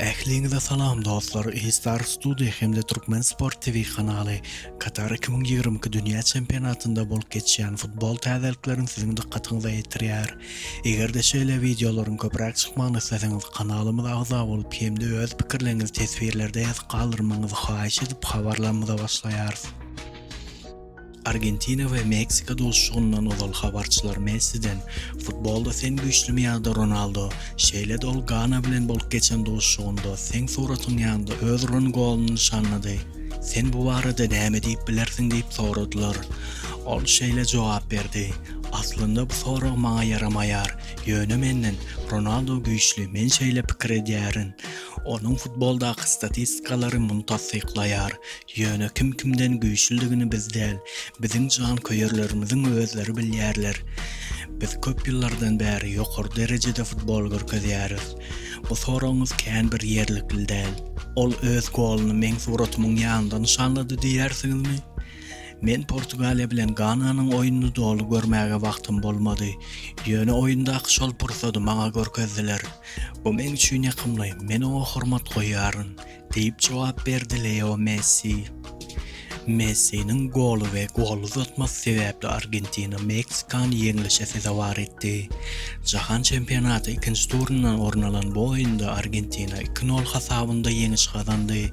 Ähliňize salam dostlar E-star studio hem-de Türkmen sport TV kanaly Katar iki müň ýigrimi iki dünýä çempionatynda bolup geçýän futbol täzelikleriň siziň dykgatyňyza ýetirýär. Eger-de şeýle wideolaryň köpräk çykmagyny isleseňiz kanalymyza agza bolup hem-de öz pikirleňizi teswirlerde ýazyp galdyrmagyňyzy haýyş edip habarlarymyza başlaýarys. Argentina we Meksika duşuşygyndan ozal habarçylar Messiden Futbolda sen güýçlümi ýa-da Ronaldo, şeýle-de ol Gana bilen bolup geçen duşuşygynda seň suratyň ýanynda öz uran goluny nyşanlady. Sen bu barada näme diýip bilersiň diýip soradylar. Ol şeýle jogap berdi, Aslynda bu sorag maňa ýaramaýar, ýöne menden Ronaldo güýçli, men şeýle pikir edýärin. Onuň futboldaky statistikalary muny tassyklaýar, Ýöne kim kimden güýçlüdigini biz däl, biziň janköýerlerimiziň özleri bilýärler. Biz köp ýyllardan bäri ýokary derejede futbol görkezýäris. Bu soragyňyz kän bir ýerlikli däl. Ol öz goluny meň suratymyň ýanynda nyşanlady diýýärsiňizmi? Men Portugaliýa bilen Gananyň oýnuny doly görmäge wagtym bolmady. Ýöne oýundaky şol pursady maňa görkezdiler. Bu meň üçin ýakymly, men oňa hormat goýýaryn. diýip jogap berdi Leo Messi. Messiniň goly we gol uzatmasy sebäpli Argentina Meksikany ýeňlişe sezewar etdi. Jahan çempionaty ikinji turyndan orun alan bu oýunda Argentina iki nol hasabynda ýeňiş gazandy.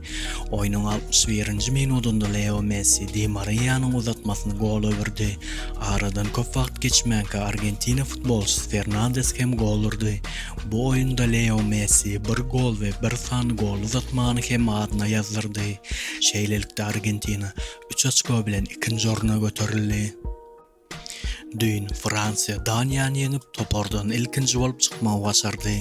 Oýnuň altmyş birinji minudynda Leo Messi Di Mariýanyň uzatmasyny gol öwürdi. Aradan köp wagt geçmänkä Argentina futbolçysy Fernandes hem gol urdy. Bu oýunda Leo Messi bir gol we bir sany gol uzatmany hem adyna ýazdyrdy. Şeýlelikde Argentina üç oçko bilen ikinji orna göterildi. Düýn Fransiýa Daniýany ýeňip, topardan ilkinji bolup çykmagy başardy.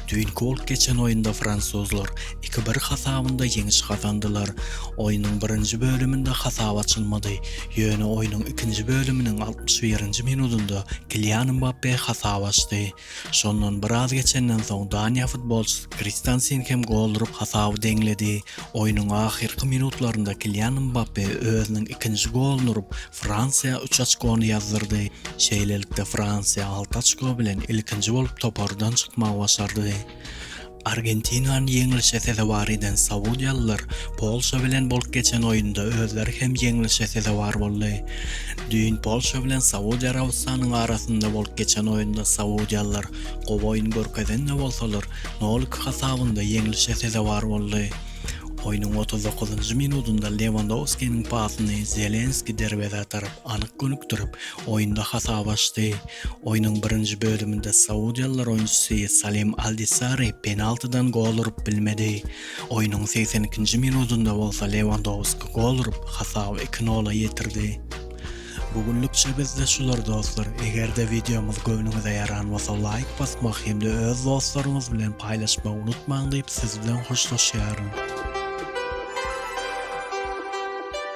Düýnki bolup geçen oýunda fransuzlar iki-bir hasabynda ýeňiş gazandylar. Oýnuň birinji bölüminde hasap açylmady, ýöne oýnuň ikinji bölüminiň altmyş birinji minudynda Kilian Mbappe hasap açdy. Şondan biraz geçenden soň Daniýa futbolçysy Kristensen hem gol urup hasaby deňledi. Oýnuň ahyrky minutlarynda Kilian Mbappe özüniň ikinji goluny urup, Fransiýa üç oçkony ýazdyrdy. Şeýlelikde Fransiýa alty oçko bilen ilkinji bolup topardan çykmagy başardy. Argentinany ýeňlişe sezewar eden saudiýalylar Polşa bilen bolup geçen oýunda özleri hem ýeňlişe sezewar boldy. Düýn Polşa bilen Saudiýa Arabystanynyň arasynda bolup geçen oýunda saudiýalylar gowy oýun görkezen-de bolsalar, nolik hasabynda ýeňlişe sezewar boldy. Oýnuň otuz dokuzynjy minudynda Lewandowskiniň pasyny Zelenski derwezä tarap. anyk gönükdirip, oýunda hasap açdy. Oýnuň birinji bölüminde saudiýalylar oýunçysy Salem Aldisari penaltydan gol urup bilmedi. Oýnuň segsen ikinji minudynda bolsa Lewandowski gol urup, hasaby iki nola ýetirdi. Bu günlükçe bizde şular dostlar. Eger-de wideomyz göwnüňize ýaran bolsa laýk basmak hem-de öz dostlaryňyz bilen paýlaşmagy unutmaň diýip siz bilen hoşlaşýaryn.